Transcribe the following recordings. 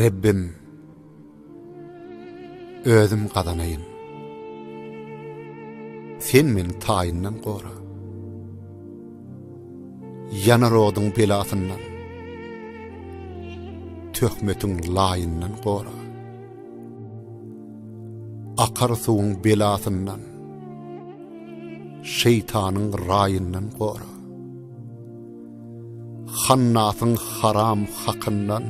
Rebbim, özüm gazanaýyn. Sen meni taýyndan gora. Ýanar oduň belasyndan, töhmetiň laýyndan gora. Akar suwuň belasyndan, şeýtanyň raýyndan gora. Hannasyň haram hakyndan,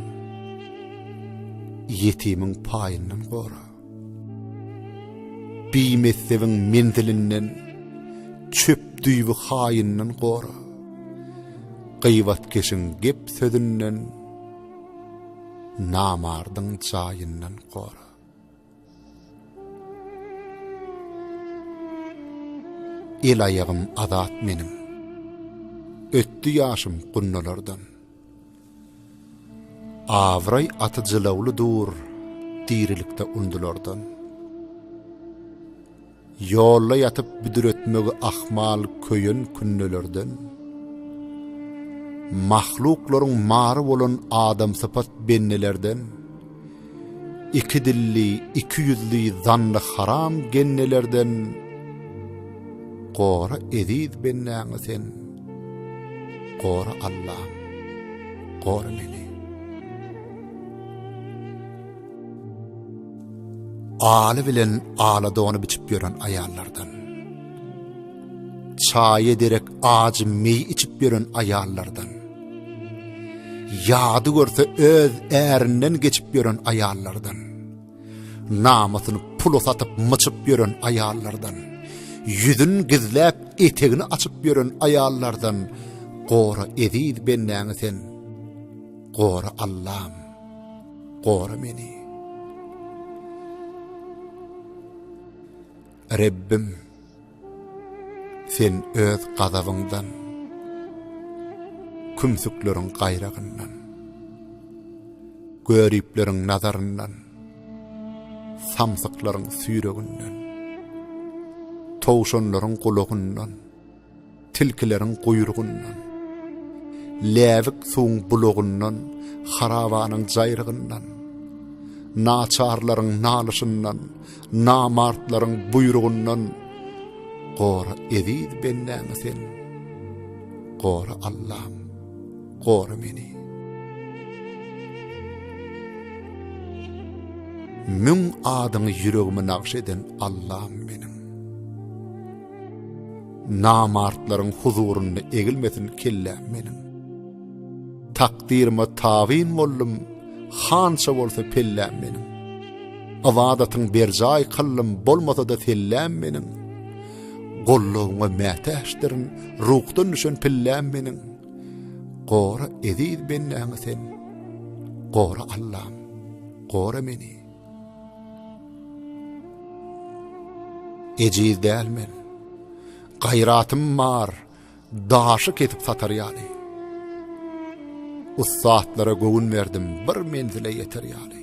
ýetimiň paýyndan gora. Bimessebiň menzilinden, çöp-düýbi haýyndan gora. Gyýbatkeşiň gep sözünden, namardyň jaýyndan gora. El-aýagym azat meniň, ötdi ýaşym gunnalardan. Abraý aty jylawly dur, dirilikde undulardan. Ýolda ýatyp büdretmegi ahmal köýen künnelerden, mahluklaryň mary bolan adamsypat bennelerden, iki dilli, iki ýüzli zanny haram gennelerden gora eziz bennäňi sen, gora Allam, gora meni. Aly bilen ala dony biçip ýören aýallardan. Çaýy derek ajy meý içip ýören aýallardan. Ýady görse öz ärinden geçip ýören aýallardan. Namysyny pula satyp myçyp ýören aýallardan. Ýüzün gizläp etegini açyp ýören aýallardan. Gora eziz bendäňi sen. Gora Allahym. gora meni. Rebbim, sen öz gazabyňdan, kümsükleriň gaýragyndan, göripleriň nazaryndan, samsyklaryň süýrüginden, towşanlaryň gulagyndan, tilkileriň guýrugyndan, läbik suwuň bulagyndan, harabanyň jaýrygyndan, naçarlaryň nalyşyndan, namartlaryň buýrugyndan gora eziz bendäňi sen. Gora Allam, gora meni. Müň adyňy ýüregime nagş eden Allam meniň. Namartlaryň huzurynda egilmesin kelläm meniň. Takdyryma tabyn boldum, hança bolsa pelläm meniň. Ybadatyň berjaý kyllym, bolmasa-da selläm meniň. Gollugyňa mätäçdirin, ruhdan düşen pilläm meniň. Gora eziz bennäňi sen, gora Allam, gora meni. Ejiz däl men. Gaýratym bar, daşy kesip satar ýaly. Ussatlara göwün berdim, bir menzile ýeter ýaly.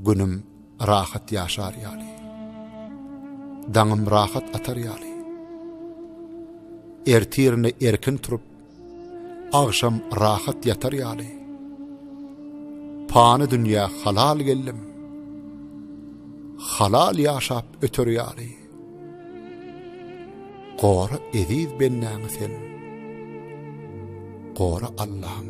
Günüm rahat ýaşar ýaly. Daňym rahat atar ýaly. Ertirine erkin turup, Agşam rahat ýatar ýaly. Pany dünýä halal geldim. Halal ýaşap öter ýaly. Gora eziz bennäňi sen. Gora Allahym.